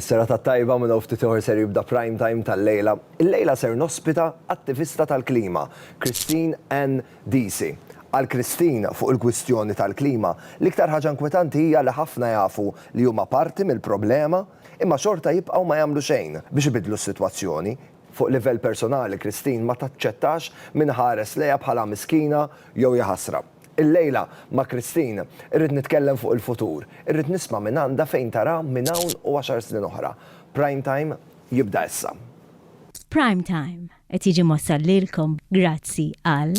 Serata tajba minn hawn ftit ieħor ser jibda Prime Time tal-lejla. Illejla ser nospita attivista tal-klima, Christine Anne Deasy. Għal Christine, fuq il-kwistjoni tal-klima, l-iktar ħaġa inkwetanti hija li ħafna jafu li huma parti mill-problema imma xorta jibqgħu ma jagħmlu xejn biex ibiddlu s-sitwazzjoni. Fuq livell personali Christine ma taċċettax min iħares lejha bħala miskina jew jaħasra. Illejla ma' Christine irrid nitkellem fuq il-futur, irrid nisma' mingħandha fejn tara minn hawn u għaxar snin oħra. Prime Time jibda issa. Prime Time qed jiġi mwassal lilkom grazzi għal.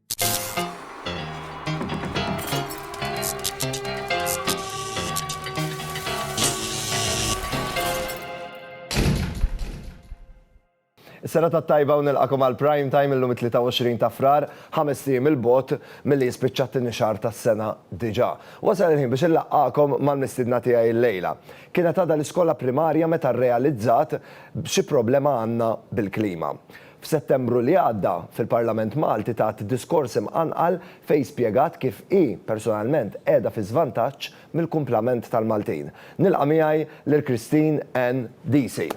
Sena ta' tajba u nilqakom għal prime time illum 23 ta' frar, ħames tim il-bot mill-li jispiċċat t-nixar ta' sena diġa. Wasal il-ħin biex il-laqqakom mal-mistidna tijaj il-lejla. Kienet għada l-iskola primarja meta realizzat b'xi problema għanna bil-klima. F'Settembru li għadda, fil-Parlament Malti tat diskors imqanqal fejn spjegat kif hi personalment qiegħda fi żvantaġġ mill-kumplament tal-Maltin. Nilqa' miegħi lil Christine Anne Deasy.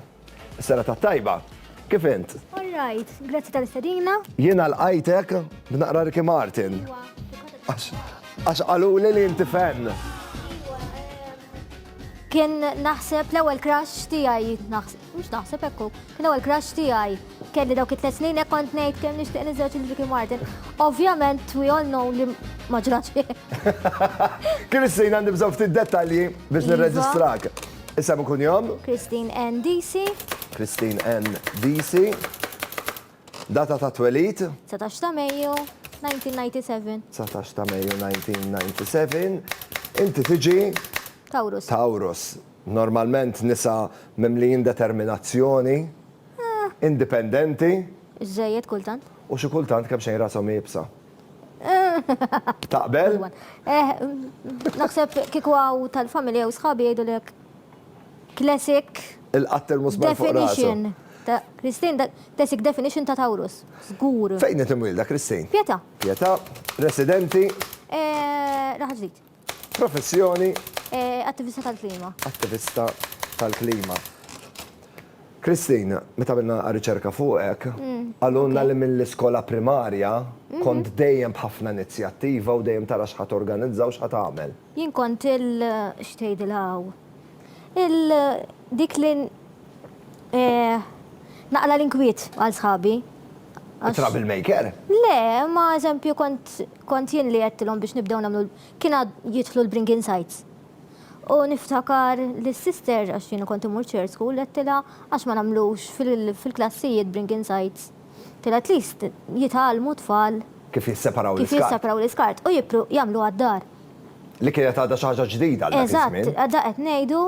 Is-sena tat-tajba! Kif int? All right. Grazzi tal-istedina. Jiena lqajtek b'naqra Ricky Martin. Iwa, fil-kontest tal-Malta. Għax qaluli li inti fan. Iwa, eh. Kien naħseb l-ewwel crush tiegħi naħseb, mhux naħseb hekk kien l-ewwel crush tiegħi kelli dawk it-tliet snin hekk kont ngħid kemm nixtieq niżewġ il Ricky Martin. Ovvjament we all know li ma ġrax. Kien is-sejn għandi bżonn ftit dettalji biex iva. nirreġistrak. Isem ikun jom? Christine N. DC. Christine N. DC. Data ta' twelid. 19 ta' Mejju 1997. 19 ta' Mejju 1997. Inti tiġi. Tawrus. Tawrus. Normalment nisa mimlijin determinazzjoni, indipendenti. Żżejjed kultant. U xi kultant kemxejn rashom iebsa. Taqbel? Naħseb kieku hawn tal-familja jew sħabi jgħidulek. Classic definition ta' Christine, classic definition ta' Taurus, żgur. Fejn qed imwielda Christine? Pietà. Pietà, residenti? Raħal Ġdid. Professjoni? Attivista tal-klima. Attivista tal-klima. Christine, meta għamilna riċerka fuqek, qalulna li mill-iskola primarja kont dejjem b'ħafna inizjattiva u dejjem tara x'ħa torganizza u x'ħa tagħmel. Jien kont il x'tgħidilha hawn? Il dik li naqla' l-inkwiet għal sħabi. It-trouble maker? Le, imma eżempju kont jien li għedtilhom biex nibdew nagħmlu kien għad jidħlu l-bring in sites. U niftakar li s-sister, għax jien kont immur church school, għedtilha għax ma nagħmlux fil-klassijiet bring in sites. Fil at least jitgħallmu t-tfal. Kif jisseparaw l-iskart. Kif jisseparaw l-iskart u jippru jagħmluha d-dar. Li kienet għadha xi ħaġa ġdida għal dak iż-żmien. Eżatt, għadha qed ngħidu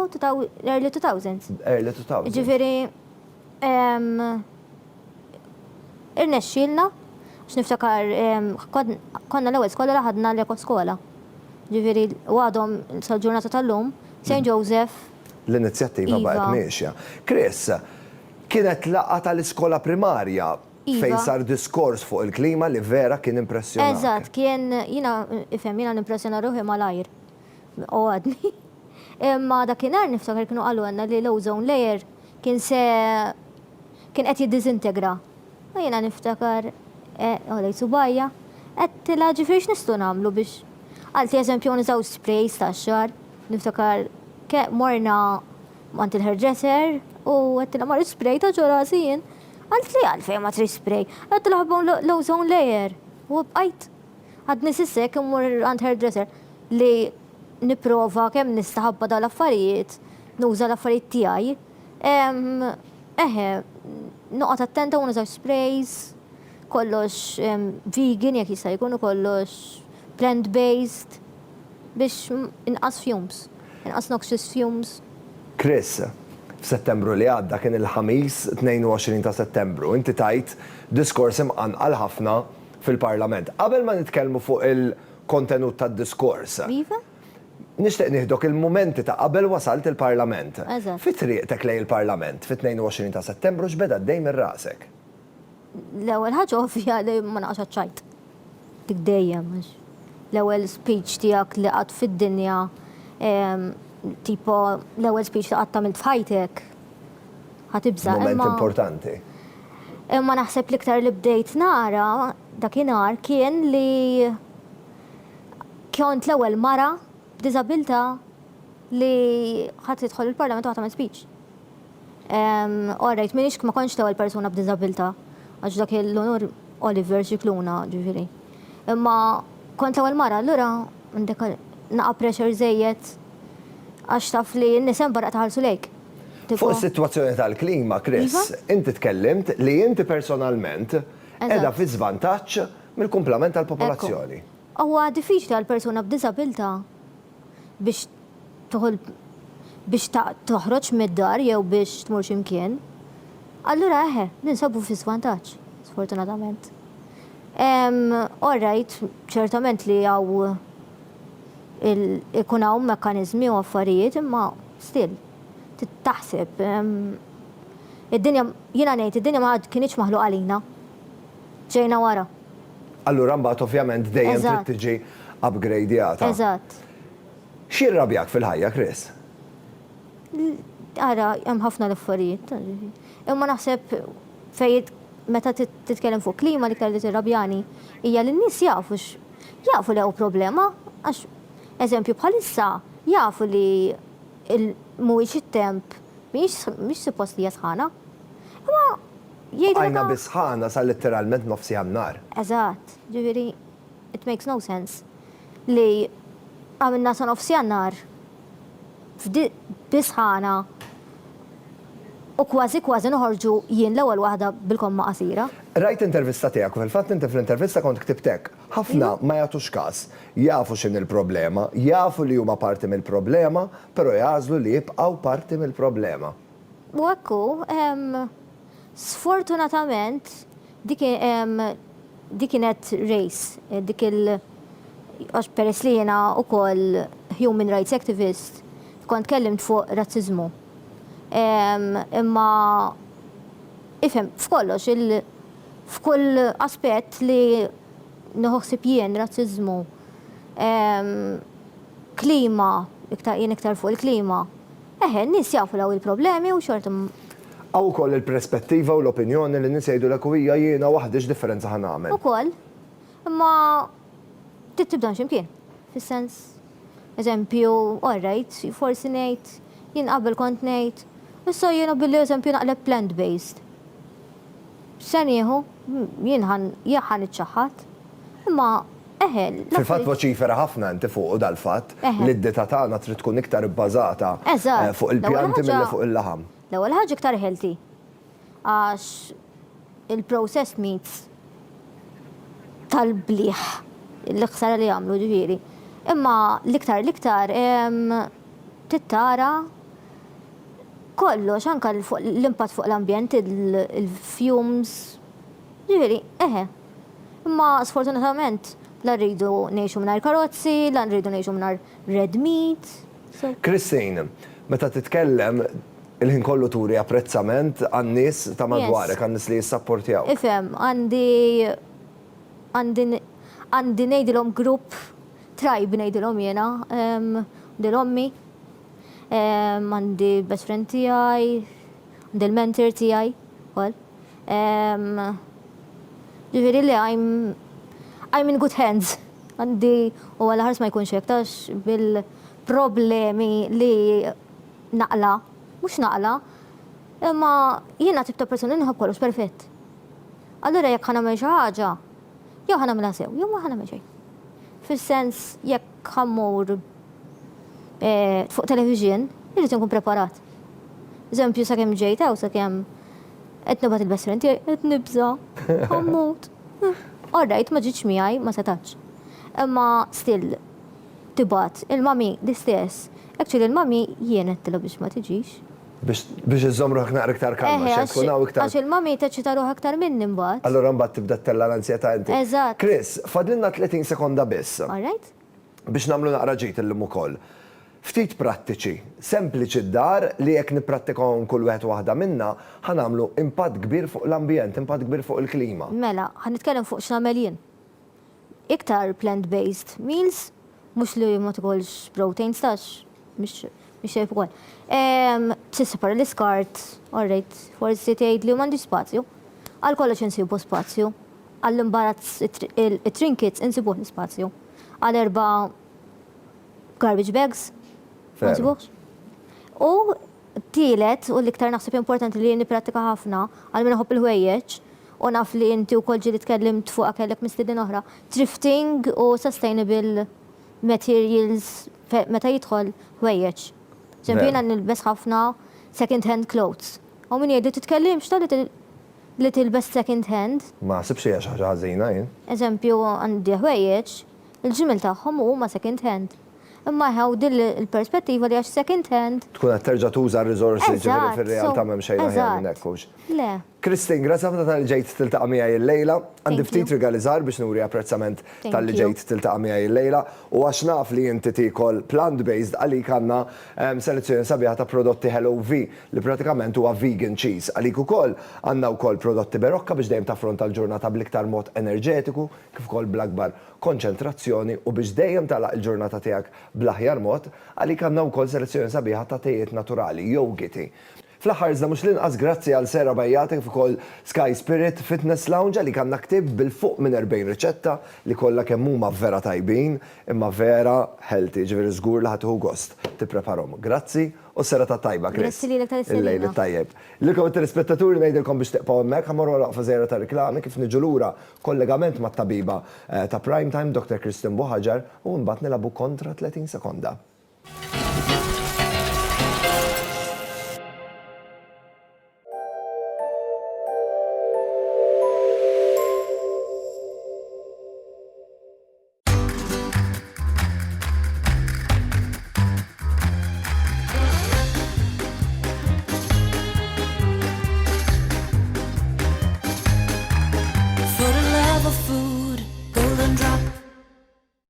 early 2000s. Early 2000s. Jiġifieri irnexxielna għax niftakar konna l-ewwel skola li ħadna l-ekoskola. Jiġifieri u għadhom sal-ġurnata tal-lum St. Joseph. L-inizjattiva baqgħet miexja. Chris, Kienet laqgħa tal-iskola primarja fejn sar diskors fuq il-klima li vera kien impressjonak. Eżatt, kien, jiena, ifhem, jiena nimpressjona ruħi malajr. U għadni. Imma dakinhar niftakar kienu qalulna li l-ozone layer kien se, kien qed jiddiżintegra. U jiena niftakar, għolejt subgħajja, għedtilha ġifieri x'nistgħu nagħmlu biex, qaltli eżempju nużaw sprays tax-xagħar, niftakar morna, Mant il-hairdresser u għettilha marri spray ta' ġo rasi jien. Għalt li għalfejn ma trid spray. Għettilha ħabbawn l-ozone layer. U bqajt għadni sissek immur għand hairdresser li niprova kemm nista' ħabba dawn l-affarijiet, nuża l-affarijiet tiegħi. Eħe, noqgħod attenta u nużax sprays, kollox vegan jekk jista' jkun u kollox plant-based. Biex inqas fumes, inqas noxious fumes. Chris, F'Settembru li għadda, kien il-Ħamis 22 ta' Settembru, inti tajt diskors imqanqal ħafna fil-Parlament. Qabel ma nitkellmu fuq il-kontenut tad-diskors. Iva. Nixtieq nieħdok il-mumenti ta' qabel wasalt il-Parlament. Eżatt. Fi triqtek lejn il-Parlament fit-22 ta' Settembru x'beda għaddej minn rasek? L-ewwel ħaġa ovvja li ma naqax għaċ-ċajt. Dik dejjem għax l-ewwel speech tiegħek li qatt fid-dinja ehm, tipo l-ewwel speech li qatt tagħmilt f'ħajtek. Ħatibża. Moment importanti. Imma naħseb l-iktar li bdejt nara dakinhar kien li kont l-ewwel mara b'diżabilità li ħadd tidħol il-Parlament u ħadd tagħmel speech. All right, minix ma kontx l-ewwel persuna b'diżabilità, għax dak l-unur Oliver Scicluna, ġifieri. Imma kont l-ewwel mara, allura għandek naqa' pressure żejjed għax taf li n-nies hemm barra qed iħallsu lejk. Fuq is-sitwazzjoni tal-klima, Chris, inti tkellimt li inti personalment qiegħda fi żvantaġġ mill-kumplament tal-popolazzjoni. Huwa diffiċli għal persuna b'diżabilità. biex tieħu biex toħroġ mid-dar jew biex tmur xi mkien, allura eħe, ninsabu fi żvantaġġ, sfortunatament. Orrajt, ċertament li hawn ikun hawn mekkaniżmi u affarijiet imma still taħseb id-dinja jiena ngħid id-dinja ma kienitx maħluqa għalina. ġejna wara. Allura mbagħad ovvjament dejjem trid tiġi upgradjata. Eżatt. X'jirrabjak fil-ħajja, Chris? Ara, hemm ħafna l-affarijiet. Imma naħseb fejn meta titkellem fuq klima li kelli tirrabjani hija li n-nies jafu jafu li hawn problema għax eżempju bħalissa jafu li mhuwiex it-temp mhix suppost li hija sħana. Imma Jgħidilek hawn. Bqajna bi sħana sa litteralment nofsiha n-nhar. Eżatt. Jiġifieri it makes no sense li għamilna sa nofsiha n-nhar bi sħana u kważi kważi noħorġu jien l-ewwel waħda bil-komma qasira. Rajt l-intervista tiegħek u fil-fatt inti fl-intervista kont ktibt hekk, Ħafna ma jagħtux każ. Jafu x'inhi l-problema, jafu li huma parti mill-problema, però jagħżlu li jibqgħu parti mill-problema. U hekk hu. Sfortunatament dik dik kienet race, dik il għax peress li jiena wkoll human rights activist, kont tkellimt fuq razziżmu. Imma ifhem, f'kollox il f'kull aspett li nieħu ħsieb jien, razziżmu, klima, iktar jien iktar fuq il-klima. Eħe, n-nies jafu li hawn il-problemi u xorta ma. Hawn ukoll il-perspettiva u l-opinjoni li n-nies jgħidulek u hija jiena waħdi x'differenza ħa nagħmel. Ukoll. Imma trid tibdahom xi mkien. Fis-sens, eżempju, all right, forsi ngħid, jien qabel kont ngħid, issa jiena billi eżempju naqleb plant based. Se nieħu, jien ħa niċċaħħad. Imma. Fil-fatt voċifera ħafna inti fuqu dal-fatt li d-dieta tagħna trid tkun iktar ibbażata fuq il-pjanti milli fuq il-laħam. L-ewwel ħaġa iktar healthy għax il-processed meats tal-bliħ l-ħsara li jagħmlu ġifieri. Imma l-iktar l-iktar trid tara kollox anke l-impatt fuq l-ambjent, il-fumes, ġifieri eħe. Imma sfortunatament la rridu ngħixu mingħajr karozzi, la rridu ngħixu mingħajr red meat, so. Christine, meta titkellem il-ħin kollu turi apprezzament għan-nies ta' madwarek, għan-nies li jissapportjawk. Ifhem, għandi għandi għandi ngħidilhom grupp, tribe ngħidilhom jiena, għandi 'l ommi, għandi best friend tiegħi, għandi l-mentor tiegħi wkoll. Jiġifieri li I'm I'm in good hands. Għandi u għal ħars ma jkunx hekk għax bil-problemi li naqla', mhux naqla', imma jiena tip ta' persuna li nħobb kollox perfett. Allura jekk ħa nagħmel xi ħaġa, jew ħa nagħmilha sew, jew ma ħa nagħmel xejn. Fis-sens jekk. Kemm mur fuq television, irrid inkun preparat. Eżempju, sakemm ġejt hawn, sakemm qed nibgħat il-best friend tiegħi, qed nibża', ħammut. All right, ma ġietx miegħi, ma setgħetx. Imma still tibgħat. Il-mommy l-istess. Actually l-mommy jien għedtilha biex ma tiġix. Biex iżżomm ruħek naqra iktar kalma, x'se tkun hawn iktar. Għax il-mommy teċċita ruħha aktar minni mbagħad. Allura mbagħad tibda ttella' l-anzjetà inti. Eżatt. Chris, fadlilna 30 sekonda biss. All right. Biex nagħmlu naqra ġid illum ukoll. Ftit prattiċi, sempliċi d-dar li jekk nipprattikahom kull wieħed u waħda minna, ħa nagħmlu impatt kbir fuq l-ambjent, impatt kbir fuq il-klima. Mela, ħa nitkellem fuq x'nagħmel jien. iktar plant based meals, mhux li ma tikolx proteins tax mhix mhix xejn ukoll. Ehm, tissepara l-iskart, orrejt, forsi tgħid li m'għandix spazju. Għal kollox insibu spazju. Għall-imbarazz it-trinkits insibuh l-ispazju. Għal erba' garbage bags, ma nsibuhx. U Tielet, u l-iktar naħseb importanti li jien nipprattika ħafna, għal min iħobb il-ħwejjeġ, u naf li inti wkoll ġieli tkellimt fuqha kellek mistiedin oħra, thrifting u sustainable materials meta jidħol ħwejjeġ. Pereżempju jiena nilbes ħafna second hand clothes. U min jgħidli titkellimx ta' li tilbes second hand. Ma naħsibx li hija xi ħaġa ħażina jien. Eżempju għandi ħwejjeġ Il-ġmiel tagħhom u huma second hand. Imma eħe u din il-perspettiva li għax second hand. Tkun qed terġa' tuża r-riżorsi jiġifieri fir-realtà m'hemm xejn aħjar minn hekk, hux? Eżatt. Le. Christine, grazzi ħafna talli ġejt tiltaqa' miegħi llejla. Għandi ftit rigali żgħar biex nuri apprezzament talli ġejt tiltaqa' miegħi llejla. U għax naf li inti tiekol plant based għalik għandna selezzjoni sabiħa ta' prodotti HelloV li pratikament huwa vegan cheese. Għalik ukoll għandna wkoll prodotti Berocca biex dejjem taffronta l-ġurnata bl-iktar mod enerġetiku. kif ukoll bl-akbar konċentrazzjoni u biex dejjem tagħlaq il-ġurnata tiegħek bl-aħjar mod, għalik għandna wkoll selezzjoni sabiħa ta' tejiet naturali, jowgiti. Fl-aħħar iżda mhux l-inqas grazzi għal Sera Bajjata kif ukoll Sky Spirit Fitness Lounge għalik għandna ktieb bil-fuq minn 40 riċetta li kollha kemm huma vera tajbin imma vera healthy, jiġifieri żgur li ħa tieħu gost tippreparhom. Grazzi u s-serata t-tajba Chris. Grazzi lilek tal-istedina. Il-lejl it-tajjeb. Lilkom it-telespettaturi ngħidilkom biex tiqpgħu hemmhekk, ħa mmorru għal waqfa żgħira tar-riklami, kif niġu lura B'kollegament mat-tabiba ta' Prime Time, Dr Kristen Buhagiar, u imbagħad nilagħbu kontra 30 sekonda.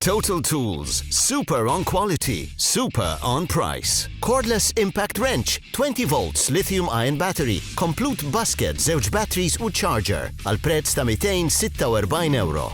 Total Tools, super on quality, super on price. Cordless Impact Wrench, 20 volts lithium ion battery, complete basket, zewġ batteries u charger, għal prezz ta' 246 euro.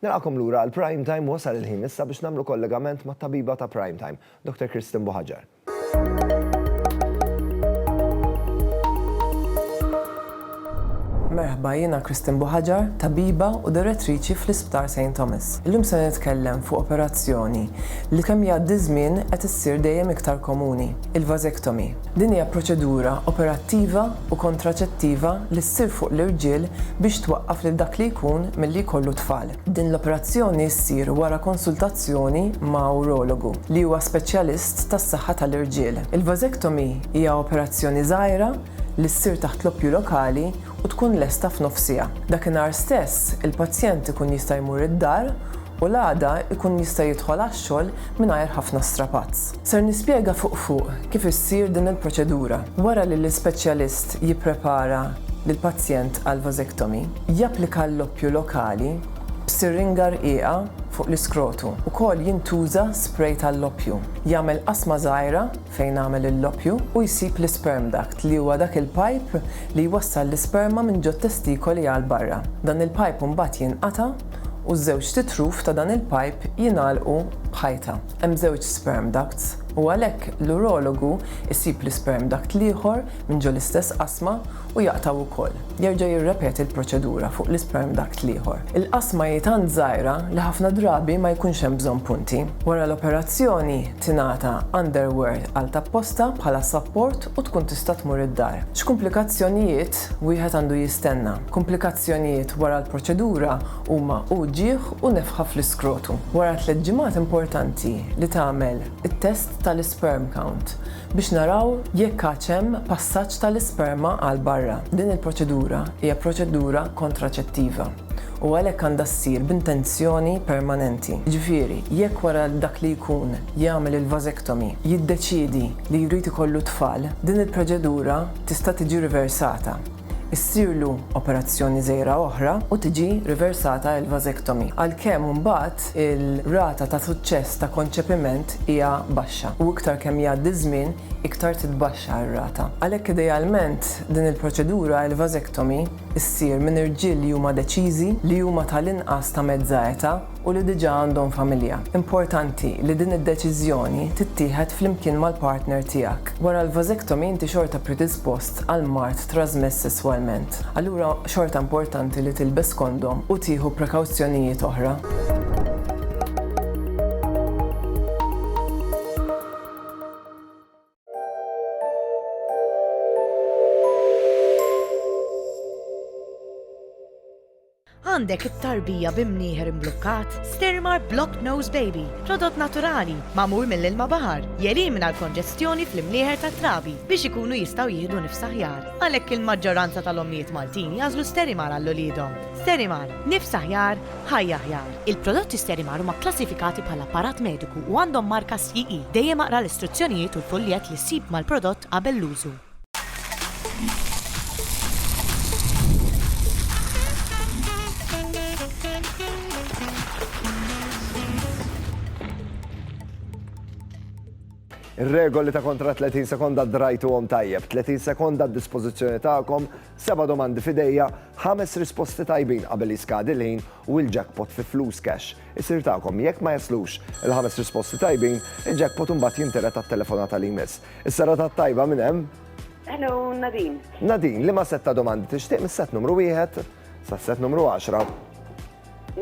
Nilqagħkom lura għal Prime Time wasal il-ħin issa biex nagħmlu kollegament mat-tabiba ta' Prime Time, Dr. Kristen Buhaġar. Merħba, jiena Kristen Buhaġar, tabiba u direttriċi fl-Isptar St. Thomas. Illum se nitkellem fuq operazzjoni li kemm jgħaddi ż-żmien qed issir dejjem iktar komuni, il-vasectomy. Din hija proċedura operattiva u kontraċettiva li ssir fuq l-irġiel biex twaqqaf lil dak li jkun milli jkollu t-tfal. Din l-operazzjoni ssir wara konsultazzjoni ma' urologu, li huwa speċjalist tas-saħħa tal-irġiel. Il-vasectomy hija operazzjoni żgħira li ssir taħt l-oppju lokali u tkun lesta f'nofsiha. Dakinhar stess, il-pazjent ikun jista' jmur id-dar U l-għada jkun jista' jidħol għax-xogħol mingħajr ħafna strapazz. Ser nispjega fuq fuq kif issir din il-proċedura. Wara li l-ispeċjalist jipprepara lill-pazjent għal vasectomy, japplika l-loppju lokali b'siringa rqiqa fuq l-iskrotu. Ukoll jintuża spray tal-loppju. Jagħmel qasma żgħira fejn għamel il-loppju u jsib l-isperm duct li huwa dak il-pajp li jwassal l-isperma minn ġot-testikoli għal barra. Dan il-pajp imbagħad jinqata' u ż-żewġt itruf ta' dan il-pajp jingħalqu b'ħajta. Hemm żewġ sperm ducts u għalhekk l-urologu jsib l-isperm duct l-ieħor minn ġol-istess qasma u jaqtgħu wkoll. Jerġa' jirrepeti l-proċedura fuq l-isperm duct l-ieħor. Il-qasma hi tant żgħira li ħafna drabi ma jkunx hemm bżonn punti. Wara l-operazzjoni, tingħata underwear għal tapposta bħala sapport u tkun tista' tmur id-dar. X'kumplikazzjonijiet wieħed għandu jistenna? Kumplikazzjonijiet wara l-proċedura huma uġigħ u nefħa fl-iskrotu. Wara tliet ġimgħat importanti li tagħmel it-test tal-isperm count. biex naraw jekk għadx hemm passaġġ tal-isperma għal barra. Din il-proċedura hija proċedura kontraċettiva u għalhekk għandha ssir b'intenzjoni permanenti. Jiġifieri, jekk wara dak li jkun jagħmel il-vasectomy jiddeċiedi li jrid ikollu t-tfal, din il-proċedura tista' tiġi riversata. issirlu operazzjoni żgħira oħra u tiġi riversata l-vasectomy, għalkemm mbagħad ir-rata ta' suċċess ta' konċepiment hija baxxa, u iktar kemm jgħaddi ż-żmien iktar titbaxxa r-rata. Għalhekk idealment din il-proċedura, il-vasectomy, issir minn irġiel li huma deċiżi, li huma tal-inqas ta' mezza eta, u li diġà għandhom familja. Importanti li din id-deċiżjoni tittieħed flimkien mal-partner tiegħek. Wara l-vasectomy inti xorta predispost għal mard trażmess sesswalment. Allura xorta importanti li tilbes kondom u tieħu prekawzjonijiet oħra. Għandek it-tarbija bi mnieħer imblukkat? Stirmar Block Nose Baby, prodott naturali, magħmul mill-ilma baħar, jelimina l-konġestjoni fl-imnieħer tat-trabi biex ikunu jistgħu jieħdu nifs aħjar. Għalhekk il-maġġoranza tal-ommijiet Maltin jagħżlu Sterimar għal uliedhom. Sterimar, nifs aħjar, Ħajja Aħjar, Il-prodotti Sterimar huma kklassifikati bħala apparat mediku u għandhom marka SIE. Dejjem aqra l-istruzzjonijiet u l-fuljett li ssib mal-prodott qabel l-użu. Ir-regoli ta' kontra 30 sekonda ddrajtuhom tajjeb. 30 sekonda għad-dispożizzjoni tagħkom Seba' domandi f'idejja, ħames risposti tajbin qabel jiskadi l-ħin u l-jackpot fi flus cash isir tagħkom. Jekk ma jaslux il-ħames risposti tajbin, il-jackpot imbagħad jintered għat-telefonata li jmiss. Is-serata t-tajba minn hemm? Hello, Nadine. Nadine, liema sett ta' domandi tixtieq mis-sett numru wieħed sas-sett numru għaxra?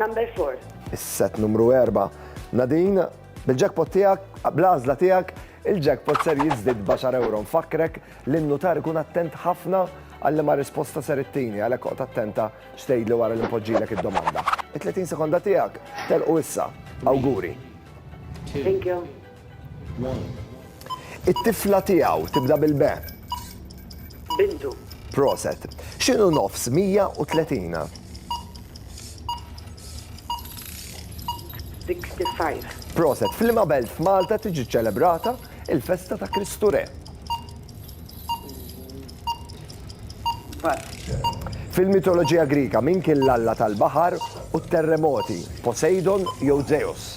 Number four. Is-sett numru erba'. Nadine, bil-jackpot tiegħek, bl-għażla tiegħek, Il-jackpot ser jiżdied b'għaxar ewro. Nfakkrek li n-nutar ikun attent ħafna għal liema risposta ser ittini, għalhekk oqgħod attenta x'tgħidli wara li npoġġilek id-domanda. It-30 sekonda tiegħek telqu issa. Awguri! Thank you. It-tifla tiegħu tibda bil-be. Bintu. Proset. X'inhu nofs 130? 65. Proset. F'liema belt f'Malta tiġi ċċelebrata il-festa ta' Kristu Re? Bat. Fil-mitoloġija Grika min kien l-alla tal-baħar u t-terremoti, Poseidon jew Zeus?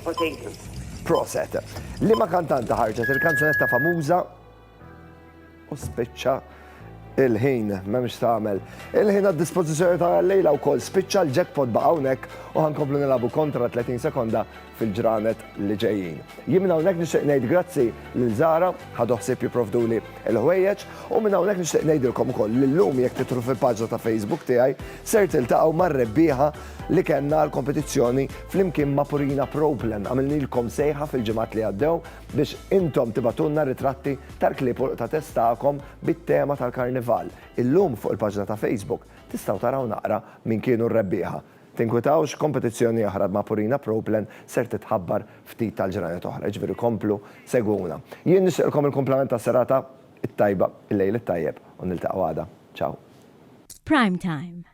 Poseidon. Proset. Liema kantanta ħarġet il-kanzunetta famuża U spiċċa il-ħin, m'hemmx tagħmel. Il-ħin għad-dispożizzjoni ta' lejla wkoll spiċċa l-jackpot ba' hawnhekk u ħankomplu nilagħbu kontra 30 sekonda fil-ġranet li ġejjin. Jien minn hawnhekk nixtieq ngħid grazzi lil Zara ħadu ħsieb jipprovduli l-ħwejjeġ u minn hawnhekk nixtieq ngħidilkom ukoll li llum jekk titru fil-paġna ta' Facebook tiegħi ser tiltaqgħu mar-rebbieħa li kellna l-kompetizzjoni flimkien ma' Purina Proplen għamilnilkom sejħa fil-ġimgħat li għaddew biex intom tibgħatulna ritratti tal-klieb u l-qtates tagħkom bit-tema tal-Karnival. Illum fuq il-paġna ta' Facebook tistgħu taraw naqra min kienu r-rebbieħa. Tinkwitawx, kompetizzjoni oħra ma' Purina Pro Plan ser titħabbar ftit tal-ġranet oħra, jiġifieri komplu segwuna. Jien nixtieqilkom il-kumplament tas-serata t-tajba, il-lejl it-tajjeb u niltaqgħu għada. Ciao. Prime Time.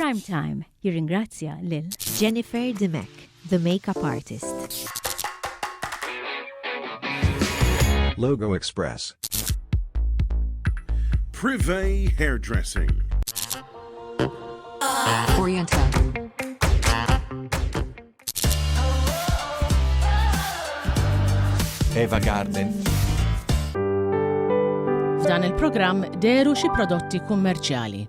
Prime Time jirringrazzja lil. Jennifer Dimech, the makeup artist. Logo Express. Privé Hairdressing. Oriental. Eva Garden. F'dan il-programm deru xi prodotti kummerċjali.